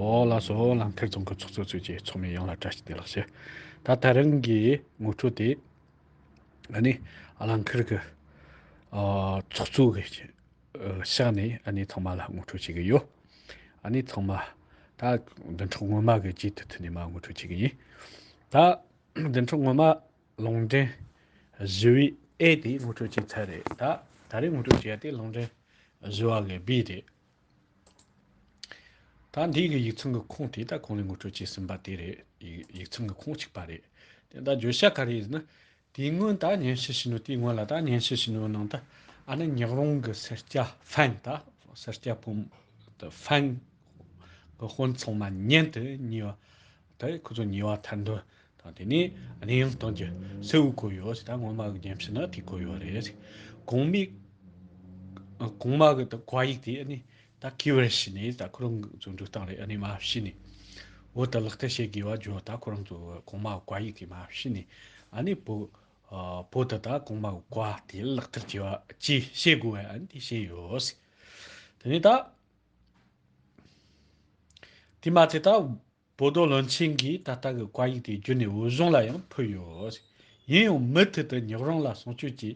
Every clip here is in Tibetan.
འོག་ལ་སོགས་ལམ་ཐིག་རྫོང་གི་ཚོགས་གཙོ་གཙོས་ཀྱི་ཚོགས་མི་ཡོངས་ལ་བཀྲ་ཤིས་བདེ་ལགས་ཞུ། ད་ལྟ་རང་གི་ངོ་སྤྲོད་དེ་ཨ་ནི་ཨ་ལ་འཁིར་གི་ཚོགས་གཙོ་གི་ཕྱག་ནས་ཨ་ནི་ཚང་མ་ལ་ངོ་སྤྲོད་བྱེད་ཀྱི་ཡོད། ཨ་ནི་ཚང་མ་ད་བདུན་ཕྲག་སྔོན་མ་གི་རྗེས་དེ་ཐུན་ནས་མ་ངོ་སྤྲོད་བྱེད་ཀྱི་ཡིན། ད་བདུན་ཕྲག་སྔོན་མ་ལུང་འདྲེན་བཞི་བའི་ཨེ་དེ་ངོ་སྤྲོད་བྱས་ཚར་རེད་ད་ད་རེས་ངོ་སྤྲོད་བྱས་ཏེ་ལུང་འདྲེན་བཞི་བ་གི་བི་རེད། ད་འདིའི་གི་ཡིག་ཚང་གི་ཁོངས་དེ་ད་གང་ལས་ངོ་སྤྲོད་བྱས་ཟིན་པ་དེ་རེད། ཡིག་ཚང་གི་ཁོངས་གཅིག་པ་རེད། དེ་ད་བརྗོད་བྱ་ག་རེ་ཡིན་ན། དེའི་སྔོན་ད་བརྙན་ཤེལ་ཞིག་ནོ་དེའི་སྔོན་ལ་ད་བརྙན་ཤེལ་ཞིག་ནོའི་ནང་ད་ཨ་ནི་ཉག་རོང་གི་སེར་སྐྱ་ཧྥན་ད་སེར་སྐྱ་ཕོ་མོ་ད་ཧྥན་གི་དཔོན་ཚང་མ་བརྙན་དུ་གཉིས་པ་ད་ཁོ་ཚོ་ཉེ་བར་ཐར་འདོད་དང་དེ་ནས་གནས་ཡང་སྟངས་ཀྱི་སེ་འུ་གོ་ཡོད་ཟེར་ད་ངོ་མ་གི་རྒན་ཕྱི་ནང་དེ་གོ་ཡོད་རེད་གོང་མའི་གོང་མ་གི་ད་བཀའ་ཡིག་དེ་ཨ་ནི་ད་གི་བར་བྱས་ནས་ད་ཁོ་རང་ཚོ་འགྲོ་སྟངས་རེད་ཨ་ནི་མ་བྱས་ནས་འོ་ད་ལག་བསྟར་བྱེད་དགོས་བ་ཇོ་ད་ཁོ་རང་ཚོ་གོང་མ་གི་བཀའ་ཡིག་དེ་མ་བྱས་ནས་ཨ་ནི་བོ་བོ་ད་ད་གོང་མ་གི་བཀའ་དེ་ལག་བསྟར་བྱེད་བ་བྱེད་དགོས་བ་ཨ་ནི་དེ་བྱས་ཡོད་ཟེར་དེ་ནས་ད། དེ་མ་ཚད་ད་བོ་རྡོ་བློན་ཆེན་གྱིས་ད་ལྟ་གི་བཀའ་ཡིག་དེ་བརྒྱུད་ནས་འོས་གཞུང་ལ་ཡང་ཕུལ་ཡོད། ཡིན་ཡང་མུ་མཐུད་དུ་ཉག་རོང་ལ་གསུང་ཆོས་ཀྱི་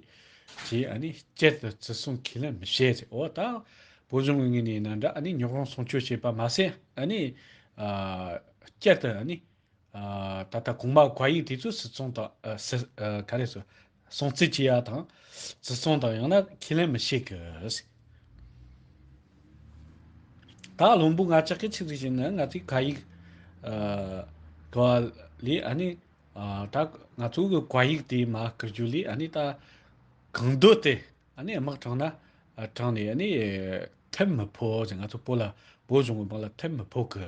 ཞེས་སྐད་དུ་བརྩི་སྲུང་ཁས་ལེན་མི་བྱེད། འོ་ད་བོ་གཞུང་གི་ངོས་ནས་ན་འདྲ་ཉག་རོང་གསུང་ཆོས་བྱེད་པ་མ་ཟད། སྐད་དུ། ད་ལྟ་གོང་མ་གྷ་ཡིག་དེ་ཚོས་སི་ཚོང་དང། ག་རེ། སྲོང་བཙིར་བྱེད་ཡག་དང། བཙིར་ཚོང་དང་ཡང་ན་ཁས་ལེན་མི་བྱེད་གི། ད་ལྷུན་པོ་ང་ཅག་གི་ཆིག་སྒྲིལ་བྱེད་ན་ང་ཚོའི་གྷ་ཡིག། གོ་བ་ལས་ཨ་ནི། ད་ང་ཚོ་གི་གྷ་ཡིག་དེ་མ་བསྐུར་རྒྱུ་ལས་ཨ་ནི་ད། གང་འདོད་དེ་ཨ་ནི་དམག་དྲངས་ན་དྲངས་ནས་ཨ་ནི། ཐེབས་མི་ཕོད་ཟེར་ང་ཚོ་བོད་ལ་བོད་གཞུང་གི་དམག་ལ་ཐེབས་མི་ཕོད་གི།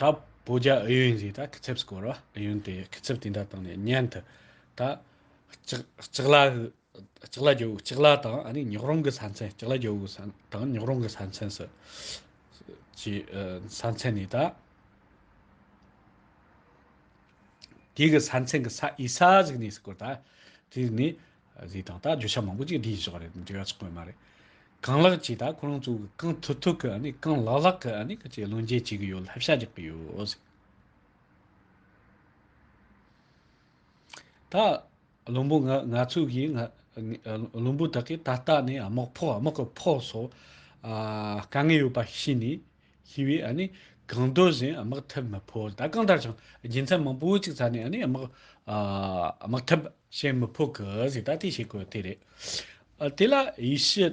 ད་བོད་རྒྱ་ཨུ་ཡོན་གྱིས་ད་ཁི་ཚེབ་བསྐོར་བ་ཨུ་ཡོན་དེས་ཁི་ཚེབ་དེ་འདྲ་བཏང་ནས་མཉན་དུ་ད་ལྕགས་ལ་རྒྱོ་བོའི་ལྕགས་ལ་དང་ཨ་ནི་ཉོག་རོང་གི་ས་མཚན་ལྕགས་ལ་རྒྱོ་བོའི་དང་ཉོག་རོང་གི་ས་མཚན་སུ་ཅི་ས་མཚན་ནི་ད་དེ་གི་ས་མཚན་གི་ས་ཨི་ས་ཟིག་ནས་བསྐོར་ད་དེ་ནི་གཟིགས་དང་ད་བརྗོད་བྱ་མང་པོ་ཅིག་འདི་ཡིན་ཞེས་པ་རེད་འབྲི་ག་ཆགས་པོ་མ་རེད། གང་ལགས་ཀྱིས་ད་ཁོ་རང་ཚོ་གང་ཐུབ་ཐུབ་གི་ནི་གང་ལགས་ལགས་ཀྱི་ནི་ཀྱི་བློ་འགྱེད་བྱེད་ཀྱི་ཡོད་ལྷབ་ཤ་རྒྱག་གི་ཡོད། ད་བླུན་པོ་ང་ང་ཚོས་གིས་ང་བླུན་པོ་དག་གིས་ད་ལྟ་ནི་དམག་ཕོགས་དམག་གི་ཕོགས་སོགས་དཀའ་ངལ་ཡོད་པ་ཤེས་ནས་ཞི་བའི་གང་འདོད་བཞིན་དམག་འཐབ་མི་ཕོད་ད་གང་ལྟར་བྱུང་རྒྱུ་མཚན་མང་པོ་གཅིག་ཚར་ནས་དམག་འཐབ་བྱེད་མི་ཕོད་གི་ཟིག་ད་དེ་བྱེད་དགོས་དེ་རེད། དེ་ལ་ཡེ་ཤུ་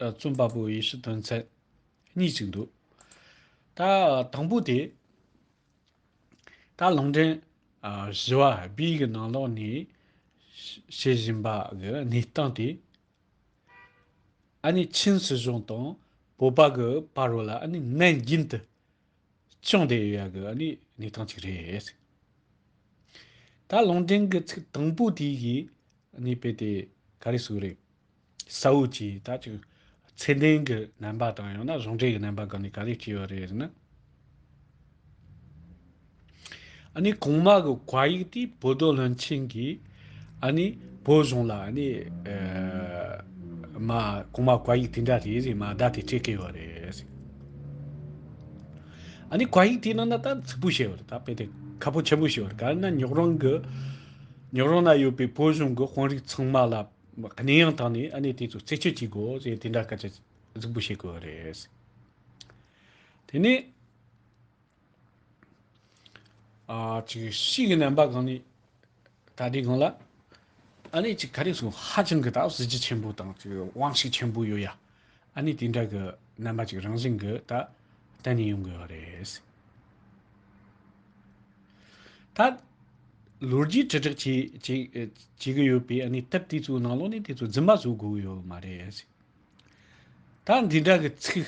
རྩོམ་པ་པོ་ཡེ་ཤུ་དོན་ཚན་གཉིས་གཅིག་འདུག་ད་དང་པོ་དེ། ད་ལུང་འདྲེན་ཞི་བ་སྦིས་ཀྱི་ནང་ལོགས་ནས་བྱེད་བཞིན་པ་གི་གནས་སྟངས་དེ་ཨཱ་ནི་ཆིན་སྲིད་གཞུང་དང་བོད་པ་གི་བར་རོ་ལ་ཨཱ་ནི་ནན་རྒྱིན་དུ་བྱུང་དེ་ཡོད་ཡག་གི་ཨཱ་ནི་གནས་སྟངས་ཅིག་རེད། ད་ལུང་འདྲེན་གི་ཚིག་དང་པོ་དེ་གིས་ཨཱ་ནི་དཔེ་དེ་ག་རེ་ཟུག་རེད། ས་འོད་ཀྱིས་ད་ཅིག་ཚད་ལྡན་གི་རྣམ་པ་དང་ཡང་ན་གཞུང་འབྲེལ་གི་རྣམ་པ་གང་ནས་ག་རེ་སྐྱེས་ཡོད་རེད་ཟེར་ན། ཨཱ་ནི་གོང་མ་གི་བཀའ་ཡིག་དེ་བོད་རྡོ་སློན་ཆེན་གྱིས་ཨཱ་ནི་བོད་གཞུང་ལ་ཨཱ་ནི་མ་གོང་མ་བཀའ་ཡིག་དེ་འདྲ་རེད་རེད་མ་བརྡ་དེ་སྤྲད་སྐལ་བ་རེད། ཨཱ་ནི་བཀའ་ཡིག་དེ་ནང་ན་ད་ཚིག་པོ་བཤད་པ་རེད་ད་དཔེ་དེབ་ཁ་པོ་ཆེན་པོ་བཤད་པ་རེད་ག་རེ་ན་ཉོག་རོང་གི་ཉོག་རོང་ན་ཡོད་པའི་བོད་གཞུང་གི་དཔོན་རིགས་ཚང་མ་ལ་གནས་ཡང་དང་ནས་ཨཱ་ནི་དེ་ཚོ་རྩད་གཅོད་བྱེད་དགོས་ཟེར་དེ་འདྲ་སྐད་ཆ་གཟིགས་པོ་བཤད་དགོས་པ་རེད། དེ་ནས། ཕྱིའི་རྣམ་པ་གང་ནས་ད་ལྟའི་གང་ལ། ཨ་ནི་ག་རེ་ཟུང་ཧ་ཅང་གི་གཟི་བརྗིད་ཆེན་པོ་དང་དབང་ཤུགས་ཆེན་པོ་ཡོད་ཡ། ཨ་ནི་དེ་འདྲ་གི་རྣམ་པ་ཅིག་རང་བཞིན་གྱི་ད་གཏན་ནས་ཡོང་དགོས་རེད། ད་ལོ་རྒྱུས་དྲིལ་བསྒྲགས་བྱེད་ཀྱི་ཡོད་པས་ཨ་ནི་སྟབས་དེ་ཚོའི་ནང་ལོགས་ནས་དེ་ཚོ་རྫུན་མ་བཟོ་དགོས་ཡོད་མ་རེད། ད་འདི་འདྲ་གི་ཚིག་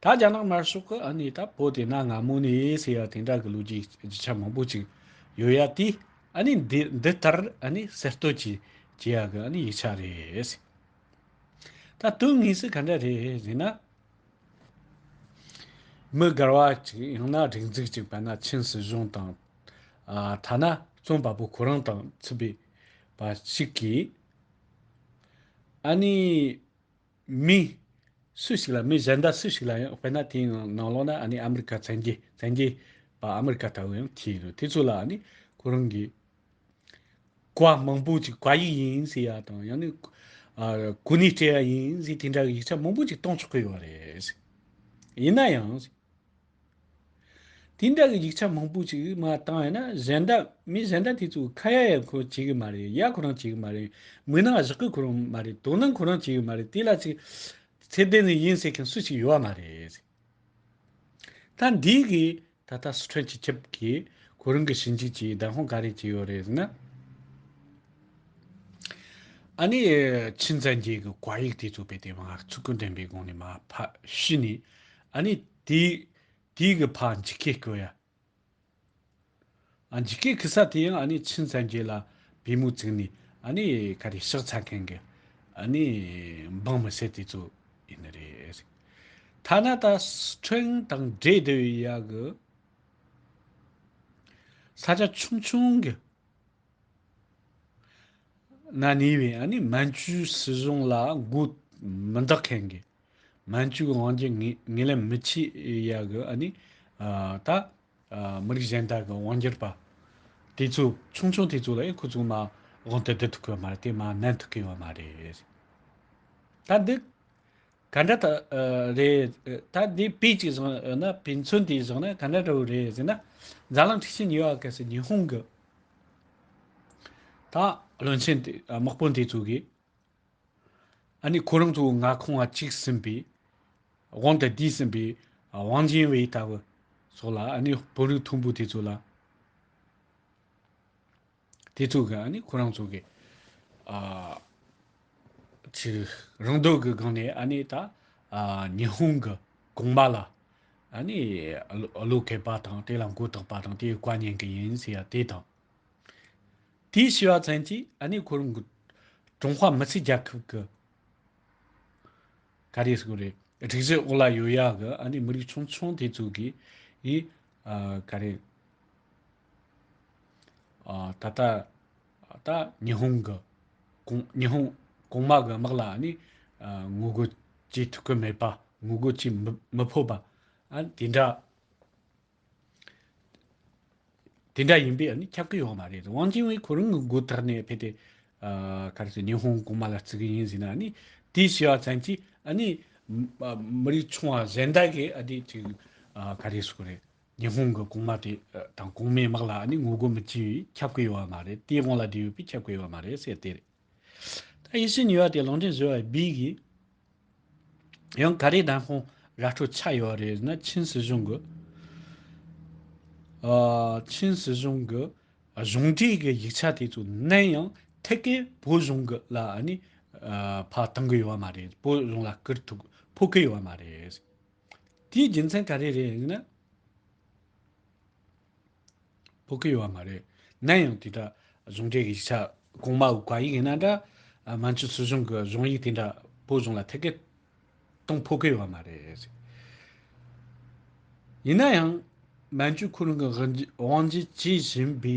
ད་རྒྱ་ནག་དམར་ཤོག་གི་ཨ་ནེ་ད་བོ་དེ་ན་ང་མོ་ནས་ཟེར་ཡ་དེ་འདྲ་གི་ལོ་རྒྱུས་རྒྱུ་ཆ་མང་པོ་ཅིག་ཡོད་ཡ་དེ་ཨ་ནེ་འདི་ལྟར་ཨ་ནེ་གསེར་རྟོལ་གྱིས་བྱེད་ཡ་གི་ཨ་ནེ་ཡིག་ཆ་རེད། ད་དོན་དངོས་སུ་ག་འདྲ་རེད་ཟེར་ན། མི་དགར་བ་ཅིག་ཡང་ན་སྒྲིག་འཛུགས་ཅིག་བལ་ན་ཆིན་སྲིད་གཞུང་དང། ཐ་ན་རྩོམ་པ་པོ་ཁོ་རང་དང་ཚུད་པའི་བ་ཞིག་གིས་ཨ་ནེ་མི། སུ་ཞིག་ལ་མི་གཞན་དག་སུ་ཞིག་ལ་ཡང་དཔེར་ན་དེའི་ནང་ལོགས་ན་ཨ་ནི་ཨ་མི་རི་ཀ་བཙན་རྒྱལ་བཙན་རྒྱལ་བ་ཨ་མི་རི་ཀ་ལྟ་བུ་ཡང་འཁྱིལ་ཡོད་དེ་ཚོ་ལ་ཨ་ནི་ཁོ་རང་གི་གོ་བ་མང་པོ་ཅིག་གོ་ཡིག་ཡིན་ཟེར་ཡ་དང་ཡང་ན་གོ་ནི་སྤྲད་ཡ་ཡིན་ཟེར་དེ་འདྲ་གི་ཡིག་ཆ་མང་པོ་ཅིག་གཏོང་ཆོག་གི་ཡོད་རེད། ཡིན་ན་ཡང། དེ་འདྲ་གི་ཡིག་ཆ་མང་པོ་ཞིག་མ་བཏང་ཡ་ན་གཞན་དག་མི་གཞན་དག་དེ་ཚོ་ཁ་ཡ་ཡ་ཁོ་བྱེད་གི་མ་རེད་ཡ་ཁོ་རང་བྱེད་གི་མ་རེད་མུན་ནག་བཞག་གི་ཁོ་རང་མ་རེད་དོ་སྣང་ཁོ་རང་བྱེད་གི་མ་རེད་དེ་ལ་ཚིག་ཚད་ལྡན་ནི་ཡིན་ཟེར་མཁན་སུ་ཞིག་ཡོད་བ་མ་རེད། ད་འདི་གི་ད་ལྟ་སི་ཁྲོན་སྤྱི་ཁྱབ་ཀྱི་ཁོ་རང་གི་ཞིབ་འཇུག་ཀྱི་བདག་དབང་ག་རེ་བྱས་ཡོད་རེད་ཟེར་ན། ཨ་ནི་ཆིན་ཙན་རྒྱལ་གྱི་དཀའ་ཡིག་དེ་ཚོ་དཔེ་དེབ་ལྔ་བཅུ་དགུ་འདྲེན་པའི་སྒང་ནས་མ་ཕབ་ཕྱི་ནས་ཨ་ནི། དེ་དེའི་གི་ཕ་འཇིགས་ཁེ་ཀོ་ཡ། འཇིགས་ཁེ་ཁི་ས་དེ་ཡང་ཨ་ནི་ཆིན་ཚན་རྒྱལ་ལ་བི་མོ་བཙིགས་ནི་ཨ་ནི་ག་རེ་ཕྱག་ཚ་མཁན་གི་ཨ་ནི་འབངས་མི་སེར་དེ་ཚོ་ཡིན་ནི་རེད། ཐ་ན་ད་སི་ཁྲོན་དང་འབྲེལ་དེ་བི་ཡ་གི་ས་ཆ་ཆུང་ཆུང་གི་ན་ནི་བི་ཨ་ནི་མན་ཇུའི་སི་གཞུང་ལ་མགོ་མི་འདག་མཁན་གི་སྨན་བཅོས་ཀྱི་དབང་སྒྱུར་ངེས་ལེན་མི་བྱེད་ཡ་གི་ཨ་ནི། ད། མི་རིགས་གཞན་དག་གི་དབང་སྒྱུར་པ། དེ་ཚོ་ཆུང་ཆུང་དེ་ཚོ་ལ་ཡང་ཁོ་ཚོ་མ་དབང་དུ་བསྡུ་ཐུབ་ཀི་མ་རེད་དེ་མ་གནང་ཐུབ་ཀི་ཡོད་མ་རེད། ད་འདི། ག་འདྲ་ད་རེད་ད་འདི་དཔེ་ཅིག་བཟང་ཡོད་ན་དཔེ་མཚོན་དེ་བཟང་ན་ག་འདྲ་འདྲ་བོ་རེད་ཟེར་ན། འཛམ་གླིང་འཁྲིག་ཆེན་ཉི་ཧྭ་གས་སུ་ཉི་ཧོང་གི། ད་བློན་ཆེན་དེ་དམག་དཔོན་དེ་ཚོ་གིས། ཨ་ནི་ཁོ་རང་ཚོ་ང་ཁང་བ་གཅིག་ཟིན་པའི་དབང་དུ་བསྡུས་ཟིན་པའི་དབང་ཆེན་བས་ད་བུ་སོགས་ལ་ཨ་ནི་བུ་རུ་ཐུམ་བུ་དེ་ཚོ་ལ་དེ་ཚོ་གི་ཨ་ནི་ཁོ་རང་ཚོ་གི་ཆུ་རང་འདོད་གི་སྒང་ནས་ཨ་ནི་ད་ཉི་ཧོང་གི་གོང་མ་ལ་ཨ་ནི་བློས་འཁེལ་པ་དང་དེ་ལ་མགོ་བཏགས་པ་དང་དེ་བཀའ་ཉན་གི་ཡིན་ཟེར་ཡ་དེ་དང། དེའི་ཞི་བ་ཚན་གྱིས་གནས་འཁོར་འགུལ། ཀྲུང་ཧྭ་མི་སེར་རྒྱལ་ཁབ་ཀྱི། ག་རེ་སྐོར་རེད། སྒྲིག་གཞི་འོག་ལ་ཡོད་ཡ་གི་མི་རིགས་ཆུང་ཆུང་དེ་ཚོ་གི། ག་རེ། ད་ལྟ། ད་ཉི་ཧོང་གི། ཉི་ཧོང་གོང་མ་གི་དམག་ལ་ནི། ངོ་རྒོལ་བྱེད་ཐུབ་ཀྱི་མེད་པ། ངོ་རྒོལ་བྱེད་མི་ཕོད་པ། དེ་འདྲ། དེ་འདྲ་ཡིན་པས་ཁྱབ་ཀྱི་ཡོད་མ་རེད་དུང་ཝང་ཅིན་ཝུའེ་ཁོ་རང་གི་མགོ་ཐག་ནས་ཕེབས་ཏེ། ག་རེ་ཟེར་ཉི་ཧོང་གོང་མ་ལ་བརྩི་གི་ཡིན་ཟེར་ན་ནི་དེ་བྱས་པ་ཙམ་གྱིས་མི་རིགས་ཆུང་བ་གཞན་དག་གིས་ག་རེ་ཟེར་གི་རེད། ཉི་ཧོང་གི་གོང་མ་དེ་དང་གོང་མའི་དམག་ལ་ངོ་རྒོལ་མི་བྱེད་པས་ཁྱབ་ཀྱི་ཡོད་མ་རེད། དེ་དབང་ལ་བསྡད་ཡོད་པས་ཁྱབ་ཀྱི་ཡོད་མ་རེད་ཟེར་དེ་རེད། ཡེ་ཤེས་ཉི་བ་དེ་ལོང་ཏེ་བཟོས་བ་སྦིས་གི། ཡང་ག་རེ་དང་ཁོང་ར་འཕྲོ་ཆགས་ཡོད་རེད་ཟེར་ན་ཆིན་སྲིད་གཞུང་གི། ཆིན་སྲིད་གཞུང་གི་གཞུང་འབྲེལ་གི་ཡིག་ཆ་དེ་ཚོ་ནན་ཡང་ཐད་ཀའི་བོད་གཞུང་གི་ལ་ནི་ཕ་གཏང་གི་ཡོད་མ་རེད་བོད་གཞུང་ལ་བསྐུར་ཐུག་ཕོག་གི་ཡོད་མ་རེད། དེའི་རྒྱུ་མཚན་ག་རེ་རེད་ཟེར་ན། བོད་སྐད་ཡོད་བ་མ་རེད། ནམ་ཡང་དེ་འདྲ་གཞུང་འབྲེལ་གྱི་ཡིག་ཆ་གོང་མ་དགོས་ཡིག་ཡིན་ན་འདྲ། མང་ཆོས་སྲིད་གཞུང་གི་གཞུང་ཡིག་དེ་འདྲ་བོད་གཞུང་ལ་ཐད་ཀའི་སྟངས་ཕོད་ཀྱི་ཡོད་བ་མ་རེད། ཡིན་ན་ཡང་མན་ཇུ་ཁོ་རང་གི་དབང་འབྱེད་བྱེད་བཞིན་པའི་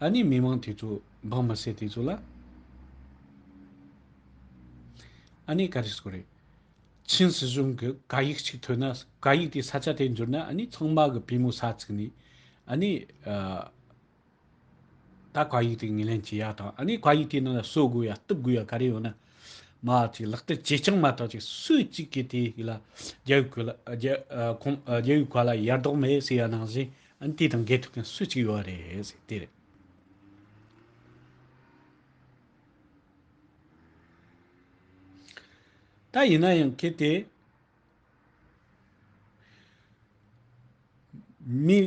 ཨ་ནེ་མི་མང་དེ་ཚོ་འབངས་མི་སེར་དེ་ཚོ་ལ་ཨ་ནེ་ག་རེ་ཟེར་དགོས་རེད། ཆིན་སྲིད་གཞུང་གི་བཀའ་ཡིག་ཅིག་ཐོས་ན་བཀའ་ཡིག་དེའི་ས་ཆ་དེར་འབྱོར་ན་ནི་ཚང་མ་གི་པུས་མོ་ས་བཙུགས་ནས། ནི། ད་བཀའ་ཡིག་དེ་ངོས་ལེན་བྱེད་ཡག་དང་ནི་བཀའ་ཡིག་དེའི་ནང་ལ་གསོད་དགོས་ཡ་གཏུབ་དགོས་ཡ་ག་རེ་ཡོད་ན། མ་ཅིག་ལག་བསྟར་བྱེད་ཅིང་མ་ཐག་ཅིག་སུ་གཅིག་གིས་དེ་ཡིག་ལ་རྒྱལ་བའི་བཀའ་རྒྱལ་བའི་བཀའ་ལ་ཡར་ལྡོག་མེད་ཟེར་ཡ་ནང་བཞིན་ནི་དེ་དང་འགལ་ཐུབ་མཁན་སུ་གཅིག་ཡོད་རེད། དེ་རེད། ད་ཡིན་ན་ཡང་གལ་ཏེ། མི་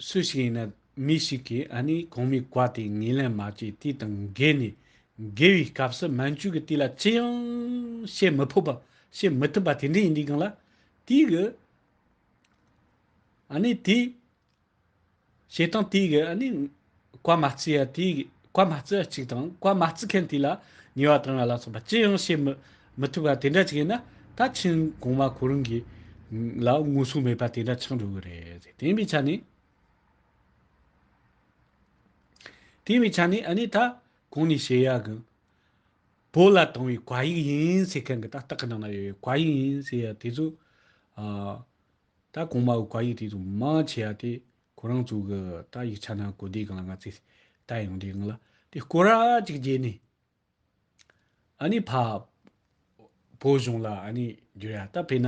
སུ་ཞིག་ཡིན་ན་མི་ཞིག་གིས་ཨ་ནི་གོང་མའི་བཀའ་དེ་ངས་ལན་མ་བྱས་དུས་དང་འགལ་ནས་འགལ་བའི་སྐབས་སུ་མན་ཇུ་གིས་དེ་ལ་ཅི་ཡང་བཤད་མི་ཕོད་པ་བཤད་མི་ཐུབ་པ་དེ་འདྲ་ཡིན་དུས་གང་ལ་དུས་ཨ་ནི་དེས་བྱེད་སྟངས་དེ་ག་ནི་བཀའ་མ་བརྩི་ཡ་དེ་བཀའ་མ་བརྩི་བ་གཅིག་དང་བཀའ་མ་བརྩི་མཁན་དེ་ལ་ཉེས་བ་དང་ང་ལ་སོགས་པ་ཅི་ཡང་བྱེད་མི་མི་ཐུབ་པ་དེ་འདྲ་ཅིག་ཡིན་ན་ད་ཕྱིན་གོང་མ་ཁོ་རང་གི་ལ་ངོ་སྲུང་མེད་པ་དེ་འདྲ་ཆགས་འགྲོ་གི་རེད་ཟེར་དེ་མི་ཆ་ནས་དེ་མི་ཆ་ནས་ཨ་ནི་ད་གང་ནས་བྱེད་ཡ་གི། བོད་ལ་བཏང་བའི་བཀའ་ཡིག་ཡིན་ཟེར་མཁན་གི་ད་སྟག་གི་ནང་ན་ཡོད་པའི་བཀའ་ཡིག་ཡིན་ཟེར་ཡ་དེ་ཚོ། ད་གོང་མ་བོ་ག་ཡིག་དེ་དང་མ་ཆེ་ཡ་དེ་ཁོ་རང་ཚོ་གི་ད་ཡིག་ཆ་ན་གོ་བདེ་གང་ལ་ང་ཚོས་ད་ཡང་འདྲེ་གང་ལ་དེ་སྐོར་ར་ཅིག་བརྗེད་ནས་ཨ་ནི་ཕ་བོ་གཞུང་ལ་ཨ་ནི་འགྱུར་ཡ་ད་ཕེ་ན་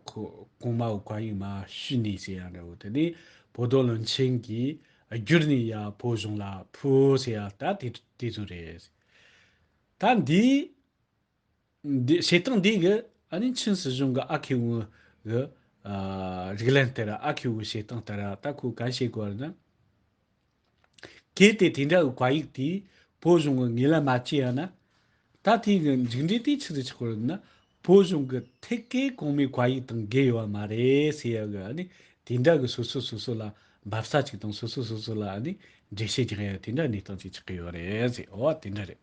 ཁོ་གོང་མ་བོ་ག་ཡིག་མ་ཤུས་ནས་ཟེར་ཡ་འདྲ་བོ་དེ་ནས་བོ་རྡོ་ལོན་ཆེན་གྱིས་བསྒྱུར་ནས་ཡ་བོ་གཞུང་ལ་ཕུ་ཟེར་ཡ་ད་དེ་ཚོ་རེད། ད་འདིའི། བྱེད་སྟངས་འདིས་གི་ཨ་རིའི་ཆིན་སྲིད་གཞུང་གི་ཨ་ཁེ་ཝུའུ་གི་རིགས་ལན་ལྟར་ཨ་ཁེ་ཝུའི་བྱེད་སྟངས་ལྟར་ད་ཁོས་གང་བྱེད་དགོས་པ་ནི། གལ་ཏེ་དེ་འདྲ་གི་བཀའ་ཡིག་དེས་བོད་གཞུང་གི་ངེས་ལེན་མ་བྱས་ཡང་ན། ད་ཐེངས་ཀྱི་མཇུག་འབྲས་དེ་ཆི་རུ་ཆགས་པར་ནི་བོད་གཞུང་གི་ཐད་ཀའི་གོང་མའི་བཀའ་ཡིག་དང་འགལ་ཡོད་པ་མ་རེད་ཟེར་ཡག་གི་ཨ་ནི་དེ་འདྲ་གི་སོ་སོས་སོ་སོ་ལ་འབབ་ས་ཅིག་དང་སོ་སོས་སོ་སོ་ལ་ཨ་ནི་འགྲེལ་བཤད་རྒྱག་ཡག་དེ་འདྲ་གནས་སྟངས་ཅིག་ཆགས་ཀྱི་ཡོད་རེད་ཟེར་འོ་དེ་འདྲ་རེད།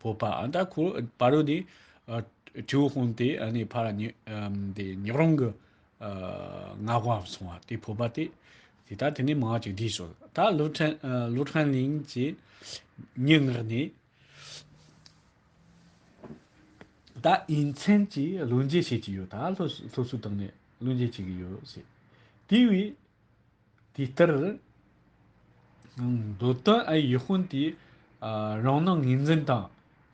བོད་པ་ཨ་མདའ་ཁོ་པ་རུ་དེ་ཁྲིའུ་དཔོན་དེ་ནས་ཕར་ཉག་རོང་གི་ངག་དབང་སོང་བ་དེ་བོད་པ་དེ་དེ་ལྟར་དེ་ནས་མང་ཅིག་བསྡད་སོང་ད་ལོ་ཁྲན་གླིང་གི་སྙན་ངག་ནི་ད་དབྱིན་མཚན་གྱིས་བློ་འབྱེད་བྱེད་ཀྱི་ཡོད་ད་ལྷོ་སུ་དང་ནས་བློ་འབྱེད་བྱེད་ཀྱི་ཡོད་ཟེར་དེ་བས། དེ་ལྟར། མདོ་དོན་ཨའི་ཡིད་དཔོན་དེ། རང་སྣང་ངེས་འཛིན་དང་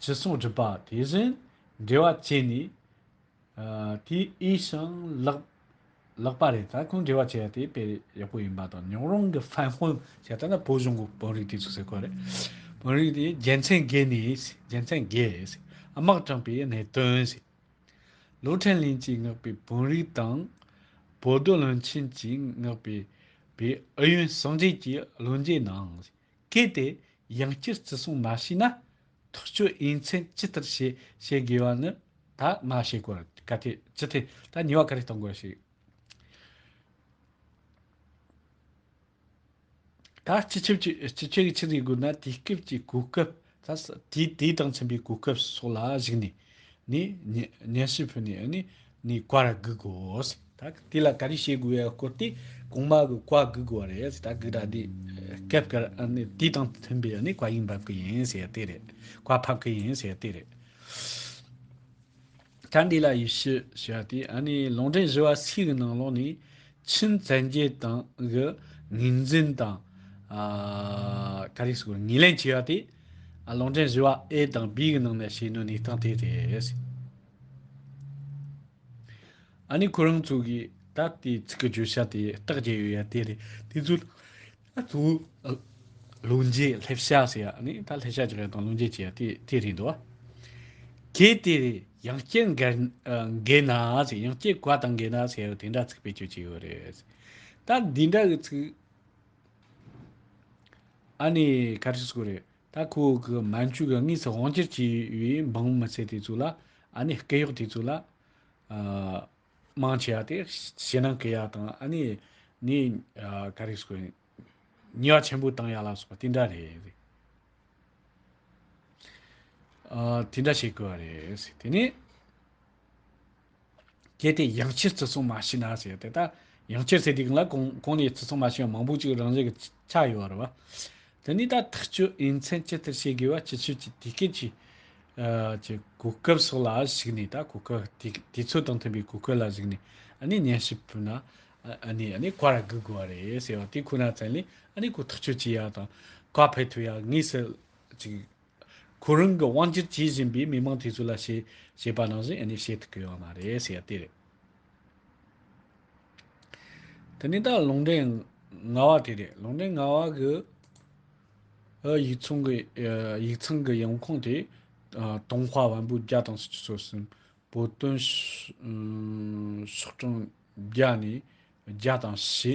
ཅི་གསུང་སྒྲུབ་པ་དེ་བཞིན་འབྲེལ་བ་བྱས་ནས། དེ་ཨའི་ཞིང་ལག་ལག་པ་རེད་ད་ཁོང་འབྲེལ་བ་བྱས་པ་དེ་དཔེ་ཡག་པོ་ཡིན་པ་དང་ཉོག་རོང་གི་ཧྥན་དཔོན་ཞེས་ད་ནི་བོད་གཞུང་གི་དཔོན་རིགས་དེ་ཚོ་ཟེར་དགོས་རེད། དཔོན་རིགས་དེ་རྒྱལ་མཚན་དགེ་ནས་རྒྱལ་མཚན་དགེ། དམག་དྲངས་པའི་གནད་དོན། ལོ་ཕྲན་ལིན་གྱིས་མངགས་པའི་བོན་རིགས་དང། བོ་རྡོ་ལོན་ཆིན་གྱིས་མངགས་པའི་པའི་ཨུ་ཡོན་སངས་རྒྱས་ཀྱི་བློ་འབྱེད་གནང། གལ་ཏེ་ཡང་བསྐྱར་བརྩི་སྲུང་མ་བྱས་ན། ཐག་གཅོད་དབྱེ་མཚན་ཇི་ལྟར་བྱེད་བཤད་དགོས་པ་ནི་ད་མ་བཤད་གོ་ག་ཐེ་ཅི་ཐེ་ད་ཉེས་བ་ག་རེ་གཏོང་དགོས་ཤིག། ད་སྤྱི་ཁྱབ་ཀྱི་སྤྱི་ཁྱབ་ཀྱི་ཕྱིར་ཡིག་དགོས་ན་དུས་སྐབས་ཀྱི་གོ་སྐབས་དང་དུས་དང་མཚུངས་པའི་གོ་སྐབས་སོགས་ལ་གཞིགས་ནས་ནས་སྙན་ཞུ་ཕུལ་ནས་ནས་ནས་བཀའ་ར་བསྒུག་དགོས། ད་དེ་ལ་ག་རེ་བྱེད་དགོས་ཡ་སྐོར་དེ་གོང་མ་གི་བཀའ་བསྒུག་དགོས་བ་རེད་ད་བསྒུག་ད་དེ་སྐབས་འགར་དུས་དང་མཐུན་པའི་བཀའ་ཡིག་འབབ་གི་ཡིན་ཟེར་དེ་རེད་བཀའ་ཕབ་གི་ཡིན་ཟེར་དེ་རེད། གྲྭ་འདི་ལ་ཡིས་ཤི་ཞེས་པ་དེ་ནི་ལུང་འདྲེན་བཞི་བ་སིའི་གི་ནང་ལོགས་ནས་ཆིན་བཙན་རྒྱལ་དང་གི་ངོས་འཛིན་དང་ག་རེ་སོགས་ངོས་ལེན་བྱས་པ་དེ་ལུང་འདྲེན་བཞི་བ་ཨེ་དང་བིའི་གི་ནང་ནས་བྱས་ནུས་གནས་སྟངས་དེ་རེད། ཨ་ནི་ཁོ་རང་ཚོ་གིས་ད་ལྟའི་ཚིག་གི་བརྗོད་བྱ་དེ་རྟགས་བརྒྱད་ཡོད་ཡ་དེ་རེད་དེ་ཚོ། ད་དུང་ལུང་འཇལ་ལྷེབ་བཤགས་ཟེར་ཡག་ནི་ད་ལྷེབ་བཤགས་ཀྱི་རེད་དང་ལུང་འཇལ་གྱི་རེད་དེ་རེད་འདུག་གལ་ཏེ་ཡང་སྐྱེར་འགས་ན་ཟེར་ཡང་སྐྱེར་གོ་དང་འགས་ན་ཟེར་དེ་འདྲ་ཚིག་བེད་སྤྱོད་ཀྱི་ཡོད་རེད་ད་འདི་འདྲ་གི་ཚིག་ཨ་ནི་ག་རེ་ཟུག་རེད་ད་ཁོ་གི་མ་མཆུ་གི་གཉིས་སུ་དབང་སྐྱེར་གྱི་འབངས་མི་ཚེ་དེ་ཚོ་ལ་ཨ་ནི་སྐད་གཡོག་དེ་ཚོ་ལ་ཨ། དམངས་ཆེ་བ་དེ་ཞེད་སྣང་སྐྱེ་ཡག་དང་ཨ་ནེ་ནི་ག་རེ་ཟེར་ཉེས་བ་ཆེན་པོ་བཏང་ཡག་ལ་སོགས་པ་དེ་འདྲ་རེད། དེ་འདྲ་བྱེད་དགོས་བ་རེད། དེ་ནས་གལ་ཏེ་ཡང་བསྐྱར་བརྩི་སྲུང་མ་བྱས་ན་ཟེར་དེ་ལྟ་ཡང་བསྐྱར་བརྩི་དེ་གང་ལ་གང་ནས་བརྩི་སྲུང་མ་བྱས་ན་མང་པོ་ཅིག་རང་བཞིན་གྱི་ཆགས་ཡོད་རེད་བ། དེ་ནས་ད་ཐག་གཅོད་དབྱེ་མཚན་ཇི་ལྟར་བྱེད་དགོས་བ་སྤྱི་ཁྱབ་ཀྱི་དེ་སྐད་ཀྱི་གྱི་གོ་སྐབས་སོགས་ལ་གཞིགས་ནས་ད་གོ་སྐབས་དེ་དུས་ཚོད་དང་མཐུན་པའི་གོ་སྐབས་ལ་གཞིགས་ནས་ཨ་ནི་ཉན་ཞིབ་ཕུལ་ན་ཨ་ནི་ཨ་ནི་བཀའ་ར་གུ་དགོས་བ་རེད་ཟེར་བ་དེ་ཁོ་ན་ཙན་ལས་ཨ་ནི་གོ་ཐག་གཅོད་བྱེད་ཡ་དང་བཀའ་ཕེབས་ཐུབ་ཡ་ངེས་སུ་ཅིག་ཁོ་རང་གི་དབང་སྒྱུར་བྱེད་བཞིན་པའི་མི་མང་དེ་ཚོ་ལ་ཞེས་ཞེས་པ་ནང་བཞིན་ཨེ་ནས་བཤད་ཐུབ་གི་ཡོད་མ་རེད་ཟེར་ཡ་དེ་རེད། དེ་ནས་ད་ལུང་འདྲེན་ང་བ་དེ་རེད་ལུང་འདྲེན་ང་བ་གི་ཨི་ཡིག་ཚང་གི་ཡིག་ཚང་གི་ཡོང་ཁུངས་དེ་ཀྲུང་ཧྭ་བན་བོན་རྒྱ་དང་སུ་ཅི་སོ་སིན་བོ་དོན་ཤོག་གྲངས་བརྒྱ་ནས་བརྒྱ་དང་ཞེ་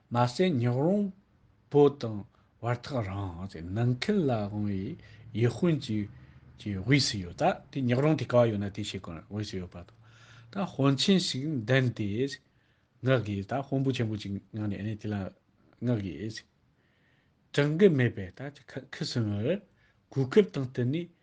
མ་ཟད་ཉག་རོང་བོ་དང་བར་ཐག་རིང་ཟེར་ནང་ཁུལ་ལ་དབང་བའི་ཡུལ་དཔོན་གྱི་ཀྱི་དབུས་སུ་ཡོད་ད་དེ་ཉག་རོང་དེ་ག་ཡོད་ན་དེ་ཞིག་གི་དབུས་སུ་ཡོད་པ་དང་ད་དཔོན་ཆེན་ཞིག་འདེམས་ཏེ་མངག་དགོས་ད་དཔོན་པོ་ཆེན་པོ་ཅིག་མངག་ནས་ནི་དེ་ལ་མངག་དགོས། དྲང་གི་མེད་པས་ད་ཁི་སིམ་བར་གོ་སྐབས་དང་བསྟུན་ནས་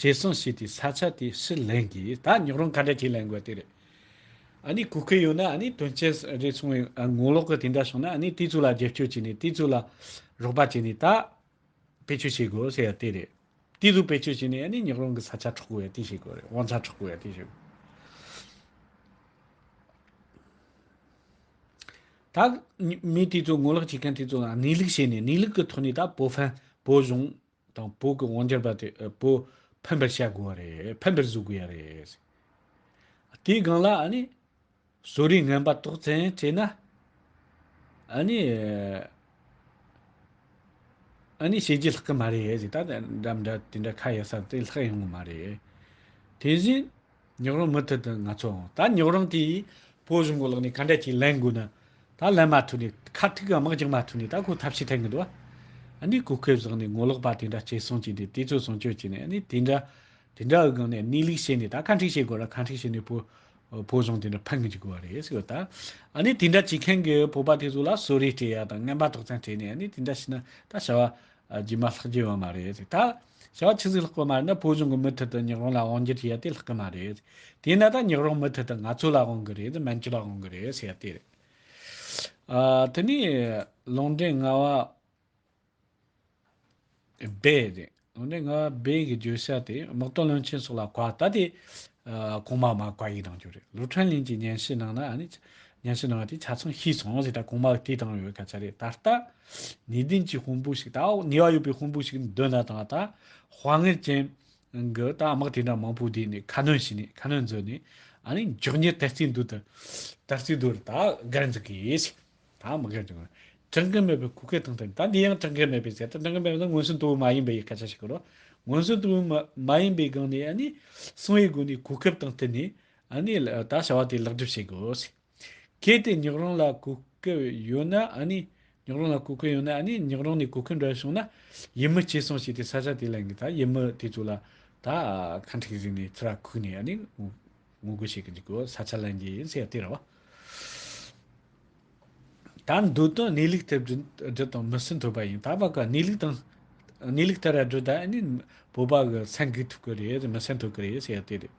བྱས་སོང་ཞེས་དེའི་ས་ཆ་དེ་ཕྱིར་ལེན་གྱིས་ད་ཉོག་རོང་ག་འདྲ་བྱེད་ལེན་དགོས་དེ་རེད། ཨ་ནི་གོ་ཁེ་ཡོད་ན་ཨ་ནི་དོན་ཆེན་རེད་གསུང་བའི་ངོ་ལོག་གི་དེ་འདྲ་བྱུང་ན་ཨ་ནི་དེ་ཚོ་ལ་རྒྱབ་སྐྱོར་བྱས་ནས་དེ་ཚོ་ལ་རོགས་པ་བྱས་ནས་ད་བེད་སྤྱོད་བྱེད་དགོས་ཟེར་ཡ་དེ་རེད། དེ་ཚོ་བེད་སྤྱོད་བྱས་ནས་ཨ་ནི་ཉོག་རོང་གི་ས་ཆ་འཕྲོག་དགོས་ཡ་དེ་བྱེད་དགོས་རེད་དབང་ཆ་འཕྲོག་དགོས་ཡ་དེ་བྱེད་དགོས། ད་མི་དེ་ཚོ་ངོ་ལོག་བྱེད་མཁན་དེ་ཚོ་ལ་གནས་ལུགས་བཤད་ནས་གནས་ལུགས་ཀྱི་ཐོག་ནས་ད་བོད་ཧྥན་བོད་གཞུང་དང་པོ་གི་དབང་ཆར་བ་དེ་པོ་ཕན་པར་བྱ་དགོས་པ་རེད། ཕན་པར་བཟོ་དགོས་ཡ་རེད། དེའི་སྒང་ལ་ཨ་ནི། བཟོ་རིག་ངན་པ་དོགས་ཚན་བྱས་ན། ཨ་ནི། ཨ་ནི་བྱེད་རྒྱུ་ལྷག་གི་མ་རེད། ད་དེ་འདྲ་མི་འདྲ་དེ་འདྲ་ཁ་གཡར་ས་དེ་ལྷག་ཡོང་གི་མ་རེད། དེ་བཞིན། ཉོག་རོང་མུ་མཐུད་དུ་ང་ཚོ་འོང། ད་ཉོག་རོང་དེའི་བོད་གཞུང་གི་ལག་ནས་ག་འདྲ་ཅིག་ལེན་དགོས་ན། ད་ལེན་མ་ཐུབ་ནས་ཁ་ཐུག་གི་དམག་འཇགས་མ་ཐུབ་ནས་ད་ཁོ་ཐབས་ཤེས་ཐེང་གི་འདུག་ཨ། འདི་གོ་ཁེབས་བཟང་ནས་ངོ་ལོག་པ་དེ་འདྲ་བྱེད་སོང་ཅིག་དེ་དེ་ཚོ་བཟང་སྤྱོད་བྱེད་ནས་ཨ། དེ་འདྲ་དེ་འདྲ་འུ་གང་ནས་གནས་ལུགས་ཤེས་ནས་ད་ག་འཁྲིག་བྱེད་དགོས་ར་ག་འཁྲིག་བྱེད་ནས་བོད་བོད་གཞུང་དེ་འདྲ་ཕན་གི་འཇུག་དགོས་བ་རེད་ཟེར་གི་ད། ཨ་ནི་དེ་འདྲ་བྱེད་མཁན་གི་བོད་པ་དེ་ཚོ་ལ་གསོལ་རས་སྤྲད་ཡ་དང་རྔན་པ་དོག་ཙམ་སྤྲད་ནས་ཨ་ནི་དེ་འདྲ་བྱས་ན་ད་བྱ་བ་རྗེས་མ་ལྷག་རྒྱུ་ཡོད་མ་རེད་ཟེར་ད། ཞག་ཆུ་ཚོད་ལྷག་པོ་མར་ན་བོད་གཞུང་གི་མུ་མཐུད་དུ་ཉག་རོང་ལ་དབང་སྒྱུར་བྱས་ཏེ་ལྷག་གི་མ་རེད། དེས་ན་ད་ཉག་རོང་མུ་མཐུད་དུ་ང་ཚོ་ལ་དབང་གི་རེད་མན་ཇུ་ལ་དབང་གི་རེད་ཟེར་ཏེ། དེ་ནས་ལུང་འདྲེན་རྔ་བ་སྦས་རེད། ལུང་འདྲེན་རྔ་བ་སྦས་ཀྱི་བརྗོད་བྱ་དེ་དམག་དོན་བློན་ཆེན་སོགས་ལ་གོ་བ་ལྟ་དེ། གོང་མ་མ་གོ་ཡིས་གནང་རྒྱུ་རེད་ལུའུ་ཁྲན་ལིན་གྱིས་སྙན་ཞུ་གནང་ན། སྙན་ཞུ་གནང་བ་དེ་ཆ་ཚང་ཤེས་སོང་ཟེར་ད་གོང་མ་དེས་གཏང་ཡོད་སྐད་ཆ་རེད་ད་ལྟ། ནུས་ལྡན་གྱི་དཔུང་པོ་ཞིག་དང་ནུས་བ་ཡོད་པའི་དཔུང་པོ་ཞིག་འདོད་ན་དང་དང་དཔའ་ངར་ཅན་གྱི་དང་དམག་དེ་འདྲ་མང་པོ་བསྡུས་ནས་ཁ་སྣོན་བྱས་ནས་ཁ་སྣོན་མཛོད་ནས་མགྱོགས་མྱུར་དར་རྩེ་མདུད་དུ་དར་རྩེ་མདུད་ལ་དང་སྒར་འཛུགས་དགོས། དང་མི་སྒར་འཛུགས་དགོས། གྲངས་ཀ་མེད་པའི་གུ་གེ་དང་དེ་དང་དེ་ཡང་གྲངས་ཀ་མེད་པའི་ཟེར་ཏེ་གྲངས་ཀ་མེད་པ་ནི་མངོན་སུམ་དུ་མ་ཡིན་པའི་སྐད་ཆ་ཞིག་རོ། མངོན་སུམ་དུ་མ་ཡིན་པའི་སྒང་ནས་གསང་བའི་སྒོ་ནས་གོ་སྐབས་དང་བསྟུན་ནས་ད་བྱ་བ་དེ་ལེགས་འགྲུབ་བྱེད་དགོས། གལ་ཏེ་ཉག་རོང་ལ་གོ་སྐལ་ཡོད་ན་ཨ་ནི། ཉག་རོང་ལ་གོ་སྐལ་ཡོད་ན་ཨ་ནི་ཉག་རོང་ནས་གོ་སྐལ་འདྲ་བྱུང་ན། ཡིད་མི་ཆེས་སོང་ཞེས་དེ་ས་ཆ་དེ་ལ་ཡིན་གྱི་ད་ཡིད་མི་དེ་ཚོ་ལ་ད་ཁ་འཁྲིག་རིག་ནས་ཚུར་ར་ཁུག་ནས་ཨ་ནི་ངོ་རྒོལ་བྱེད་གྱི་འཇུག་གོ་ས་ཆ་ལ་ཡིན་གྱི་ཡིན་ཟེར་ཡ་དེ་ར་བ། ད་འདོད་དོན་གནས་ལུགས་ཐད་བརྗོད་དང་མི་སྲིད་འཐོལ་པ་ཡིན་ད་བ་ག་གནས་ལུགས་དང། གནས་ལུགས་ཐད་ར་བརྗོད་ད་ཨ་ནི་བོད་པ་གི་མཚན་གུས་ཐུབ་གི་རེད་མི་སེམས་འཐོལ་གི་རེད་ཟེར་ཡ་དེ་རེད།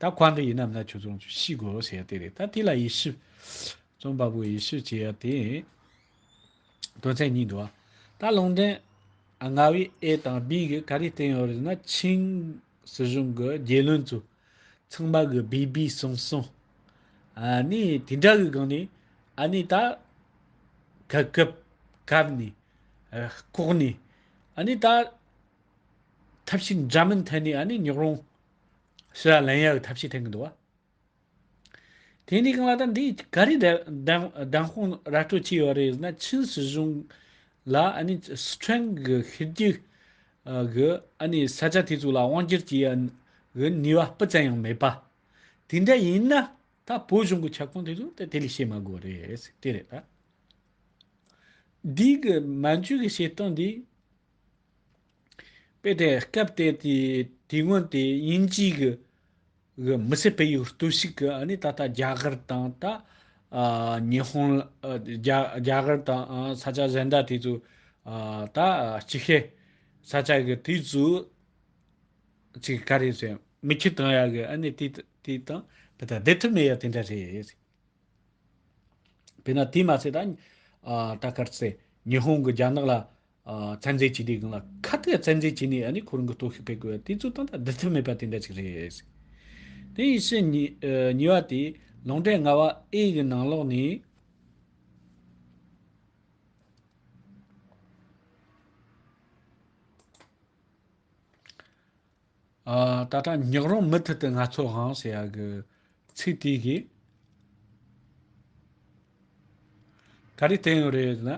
ད་ཁོང་གི་ཡིན་ནམ་ན་ཁྱོད་ཚོ་ཤི་དགོ་ཟེར་ཡ་དེ་རེད་ད་དེ་ལ་ཡི་ཤུ། རྩོམ་པ་པོ་ཡི་ཤུ་བྱེད་ཡ་དེ་ཡིན། དོན་ཚན་གཉིས་འདུག་ད་ལུང་འདྲེན། རྔ་བའི་ཨེ་དང་སྦིས་ཀྱི་ག་རེ་བསྟན་ཡོད་རེད་ན་ཆིང་སྲིད་གཞུང་གི་རྒྱལ་བློན་ཚོ་ཚང་མ་གི་སྦིས་སྦིས་སོང་སོང། ཨ་ནི་དེ་འདྲ་གི་སྒང་ནས་ཨ་ནི་ད་ག་གབ་གབ་ནས་ཨ་ལྐོག་ནས་ཨ་ནི་ད་ཐབས་ཤིག་འདྲ་མིན་ཐད་ནས་ཨ་ནེ་ཉོག་རོང། ཞི་ར་ལན་ཡ་ཡོ་ཐབས་ཤེས་འཐེན་གྱི་འདུག་བ། དེ་ནས་གང་ལ་ད་འདི་ག་རེ་བདེན་དཔང་ར་སྤྲོད་བྱས་ཡོད་རེད་ཟེར་ན་ཆིན་སྲིད་གཞུང་ལ་ཨ་ནེ་སི་ཁྲོན་གྱི་ཤི་རྒྱུ་གི་ཨ་ནེ་ས་ཆ་དེ་ཚོ་ལ་དབང་སྒྱུར་བྱེད་ཡག་གི་ནུས་བ་སྤུ་ཙམ་ཡང་མེད་པ། དེ་འདྲ་ཡིན་ན་ད་བོད་གཞུང་གི་ཁྱབ་ཁོངས་དེ་ཚོ་ད་དེ་ལས་བྱེད་མ་དགོས་རེད་དེ་རེད་ད། འདི་གི་མན་ཇུ་གི་བྱེད་སྟངས་འདི། དཔེ་དེ་སྐབས་དེ་དུས་སྔོན་དེ་དབྱིན་ཇིའི་གི་མི་སེར་སྤེལ་ཡུལ་ལྟོས་ཤིག་གི་ཨ་ནི་ད་ལྟ་རྒྱ་གར་དང་ད་ཉི་ཧོང་རྒྱ་གར་དང་ས་ཆ་གཞན་དག་དེ་ཚོ་ད་ཅི་ཧེ་ས་ཆ་གི་དུས་ཚོ་ཅིག་ག་རེ་ཟེར་མི་ཁྱི་དང་ཡ་གི་ཨ་ནི་དེ་དེ་དང་དེ་ད་བསྡེབས་ཐུབ་མེད་ཡ་དེ་འདྲ་རེད་དཔེར་ན་དེ་མ་ཚད་ད་ད་གར་ཚེ་ཉི་ཧོང་གི་རྒྱ་ནག་ལ་ཚན་རྩལ་སྤྱི་བདེའི་སྒང་ལ་ཁ་གཏད་ཚན་རྩལ་སྤྱི་ནས་ནི་ཁོ་རང་གི་གཏོར་བཤིག་སྤེལ་དགོས་པ་དེ་ཚོའི་སྟངས་སྟབས་བདེ་ཐབས་མེད་པ་དེ་འདྲ་ཞིག་རེད། དེ་ཡིན་ཕྱིན། ཉེ་བ་དེ་ལོང་འབྲས་ལྔ་བ་ཨེ་ཡི་ནང་ལོགས་ནས། ད་ལྟ་ཉག་རོང་མུ་མཐུད་དུ་ང་ཚོ་དབང་ཟེར་ཡག་གི་ཚིག་དེ་གི། ག་རེ་བསྟན་ཡོད་རེད་ན།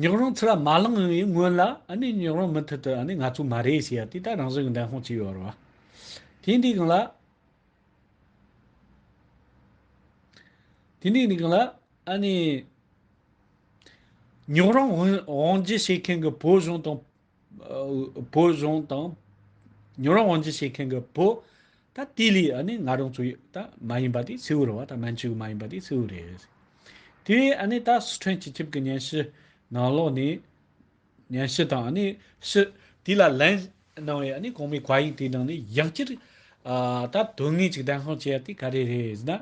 ཉག་རོང་ཚུར་ལ་མ་ལངས་ཡོང་བའི་སྔོན་ལ་ཨ་ནི་ཉག་རོང་མུ་མཐུད་དུ་ཨ་ནི་ང་ཚོ་མ་རེད་ཟེར་ཡག་དེ་ད་རང་བཟོས་གི་འདན་ཧོང་ཅིག་ཡོད་རེད་བ། དེ་འདི་གང་ལ། དེ་འདི་གང་ལ་ཨ་ནི། ཉག་རོང་དབང་བརྗེ་བྱེད་མཁན་གི་བོད་གཞུང་དང་བོད་གཞུང་དང་ཉོ་རོང་དབང་འཛིན་བྱེད་མཁན་གྱི་བུ། ད་དེ་ལས་ཨ་ནི་ང་རང་ཚོའི་ད་མ་ཡིན་པ་དེ་མཚེའུ་རེད་བ་ད་མན་ཇུའི་མ་ཡིན་པ་དེ་མཚེའུ་རེད། དེ་ཨ་ནི་ད་སི་ཁྲོན་སྤྱི་ཁྱབ་ཀྱི་ཉན་ཞི་ནང་ལོགས་ནས་ཉན་ཞི་དང་ཨ་ནི་ཞི་དེ་ལ་ལན་གནང་བའི་ཨ་ནི་གོང་མའི་བཀའ་ཡིག་དེ་ནང་ནས་ཡག་ཅིར་ད་དོན་དངོས་ཅིག་ལྡན་ཤོང་བྱས་ཏེ་ག་རེ་རེད་ཟེར་ན།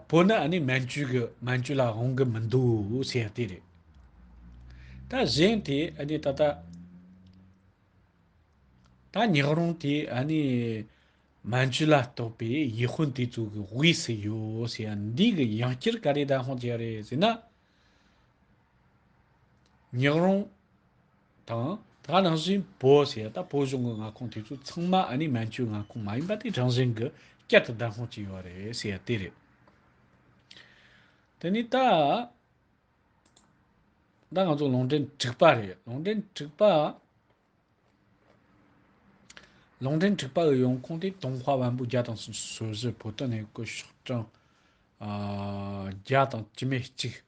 བོད་ནི་ཨ་ནི་མན་ཇུ་གི་མན་ཇུ་ལ་དབང་གི་མི་འདུག་ཟེར་ཡ་དེ་རེད། ད་གཞན་དེ་ཨ་ནི་ད་ད། ད་ཉག་རོང་དེ་ཨ་ནི་མན་ཇུ་ལ་གཏོགས་པའི་ཡེ་ཧོན་དེ་ཚོ་གི་དབུས་སུ་ཡོད་ཟེར་ཡ་འདི་གི་ཡང་སྐྱེར་ག་རེ་ད་དབང་བྱེད་ཡ་རེད་ཟེར་ན། ཉག་རོང། དང། ད་ག་རང་བཞིན་བོ་ཞེས་ད་བོ་གཞུང་གི་མངའ་ཁོངས་དེ་ཚོ་ཚང་མ་ཨ་ནི་མན་ཇུའི་མངའ་ཁོངས་མ་ཡིན་པ་དེ་རང་བཞིན་གྱི་བསྐྱར་དུ་བདག་སྔོག་བྱས་ཡོད་རེད་ཞེས་ཡ་དེ་རེད། དེ་ནི་ད། ད་ང་ཚོ་ལུང་འདྲེན་དྲུག་པ་རེད་ལུང་འདྲེན་དྲུག་པ། ལུང་འདྲེན་དྲུག་པ་གི་ཡོང་ཁུངས་དེ་དུང་ཧྭ་བན་བོ་རྒྱ་དང་སོ་སོའི་བོད་དོན་ནས་སྐུ་ཞོགས་གྲངས། བརྒྱ་དང་བཅུ་མེད་གཅིག།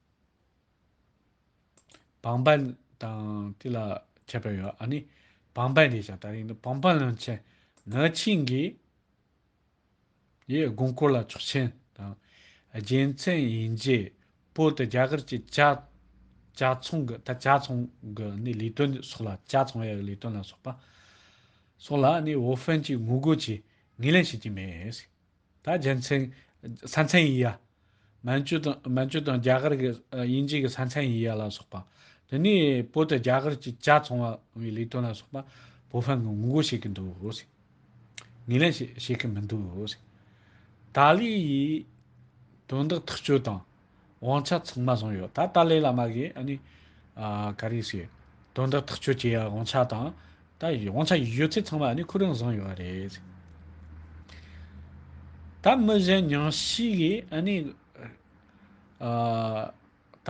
བང་པ་དང་དེ་ལ་ཁྱད་པར་ཡོད་ཨ་ནི། བང་པའི་རེད་བྱ་ད་རིང་འདི་བང་པ་ལོན་ཆེད་ནག་ཆིངས་ཀྱི་ཡི་དགོན་སྐོར་ལ་ཆོག་མཆན་དང་རྒྱལ་མཚན་ཡིན་རྗེས་བོད་དུ་རྒྱ་གར་གྱི་བྱ་བྱ་ཚོང་གི་ད་བྱ་ཚོང་གི་ནི་ལས་དོན་སོགས་ལ་བྱ་ཚོང་ཡག་གི་ལས་དོན་ལ་སོགས་པ་སོགས་ལ་ནི་བོད་ཧྥན་གྱིས་ངོ་རྒོལ་གྱིས་ངེས་ལེན་བྱེད་ཀྱི་མེད། ད་རྒྱལ་མཚན། ས་མཚན་ཡིན་ཡ། མན་ཇུ་དང་མན་ཇུ་དང་རྒྱ་གར་གྱི་དབྱིན་ཇི་གི་ས་མཚན་ཡིན་ཡ་ལ་སོགས་པ། དེ་ནས་བོད་དུ་རྒྱ་གར་གྱི་ལྕགས་ཚོང་བའི་ལས་དོན་ལ་སོགས་པ་བོད་ཕན་གྱི་ངོ་རྒོལ་བྱེད་ཀྱི་འདུག་ཟེར། ངེས་ལེན་བྱེད་ཀྱི་མི་འདུག་ཟེར། ཏཱ་ལའི་ཡིས་དོན་དག་ཐག་གཅོད་དང། དབང་ཆ་ཚང་མ་བཟུང་ཡོད་ད་ཏཱ་ལའི་བླ་མ་གིས་ཨ་ནི། ག་རེ་ཞིག། དོན་དག་ཐག་གཅོད་བྱེད་ཡག་དབང་ཆ་དང། ད་དབང་ཆ་ཡོད་ཚད་ཚང་མ་ཨ་ནི་ཁོ་རང་བཟུང་ཡོད་རེད། ད་མི་གཞན་ཉུང་ཤས་ཀྱིས་ཨ་ནི། ད།